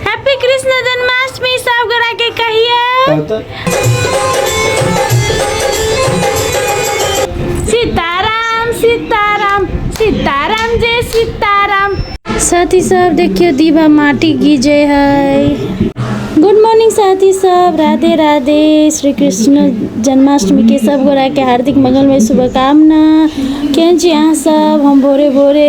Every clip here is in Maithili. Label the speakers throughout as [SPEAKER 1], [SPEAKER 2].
[SPEAKER 1] हैप्पी कृष्ण जन्माष्टमी सब गोरा के कहिए सीताराम सीताराम सीताराम जय सीताराम साथी सब देखियो दीवा माटी गिजे है गुड मॉर्निंग साथी सब राधे राधे श्री कृष्ण जन्माष्टमी के सब गोरा के हार्दिक मंगलमय शुभकामना केहन छी अहाँ सब हम भोरे भोरे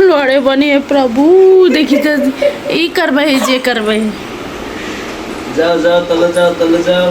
[SPEAKER 1] लड़े बने हे प्रभु देखी तो ई करबे हे जे करबे हे
[SPEAKER 2] जाओ जाओ तले जाओ तले जाओ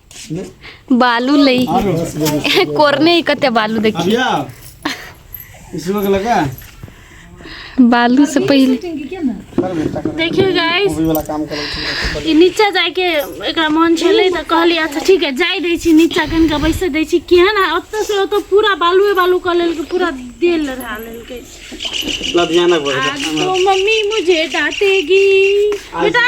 [SPEAKER 1] बालू लई कोरने ही कते बालू देखी इसमें लगा बालू से पहले देखियो गाइस ई नीचा जाय के एकरा मन छले त कहली अच्छा ठीक है जाय दै छी नीचा कन के बैसे दै छी केहन आ ओतऽ से ओतऽ पूरा बालुए बालू क लेल के पूरा देल रहा लेल के लधियाना आज तो मम्मी मुझे डांटेगी बेटा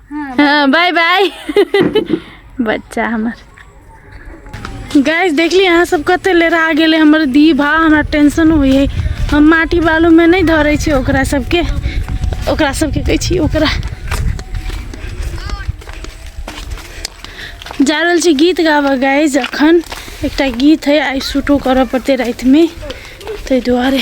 [SPEAKER 1] हाँ बाय बाय बच्चा हमार गैस देख ली अहाँ सब कते ले रहा गेले हमर दी भा हमरा टेंशन हुई है हम माटी बालू में नहीं धरे छी ओकरा सबके ओकरा सबके कहै छी ओकरा जा रहल छी गीत गाबऽ गाइज अखन एकटा गीत है आइ शूटो करऽ पड़तै रातिमे ताहि दुआरे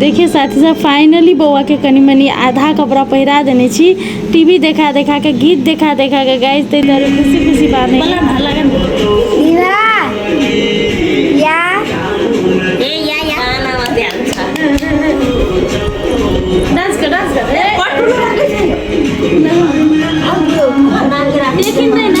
[SPEAKER 1] देखिए साथी सब फाइनली बौआके कनि मनि आधा कपड़ा पहिरा देने छी टीवी देखा देखा के गीत देखा देखा के गाइस ताहि दुआरे खुशी खुशी बात है लेकिन नहीं ना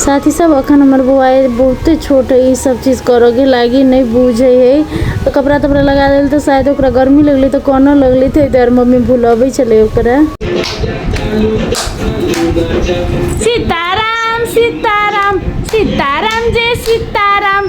[SPEAKER 1] साथी सब अखन हमर बौआए बहुते छोट है ई सब चीज करऽ के लागी नहीं बुझे है तो कपड़ा तपड़ा लगा देल तो शायद ओकरा गर्मी लगली तो कोनो लगली तो इधर मम्मी भुलबै छलै ओकरा सीताराम सीताराम सीताराम जय सीताराम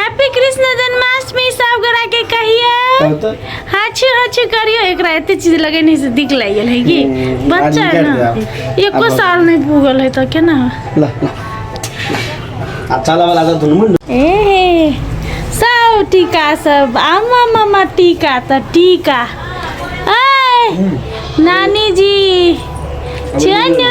[SPEAKER 1] हैप्पी कृष्ण जन्माष्टमी सब गोरा के कहियो तब तो हाछी हाछी करियो एकरा एते चीज लगे नहीं से दिख लग गेल है कि हम्म, बच्चा है आदमी ना कर एको अब- साल नहीं पूगल है तो केना हो? ला ला
[SPEAKER 2] अच्छा लगा लगा दुनू मुंड ए
[SPEAKER 1] सब टीका सब आमा मामा टीका त टीका ए नानी जी छनु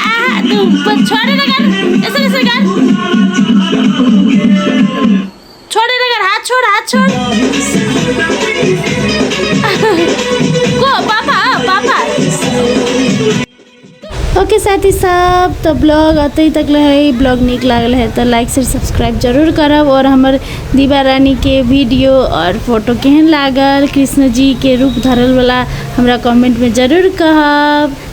[SPEAKER 1] आ तू छोड़े ना कर ऐसे कैसे कर छोड़े ना कर हाथ छोड़ हाथ छोड़ को पापा पापा ओके साथी सब तो ब्लॉग अतई तक ले है ब्लॉग निक लागल है तो लाइक से सब्सक्राइब जरूर करब और हमर दीवा रानी के वीडियो और फोटो केहन लागल कृष्ण जी के रूप धरल वाला हमरा कमेंट में जरूर कहब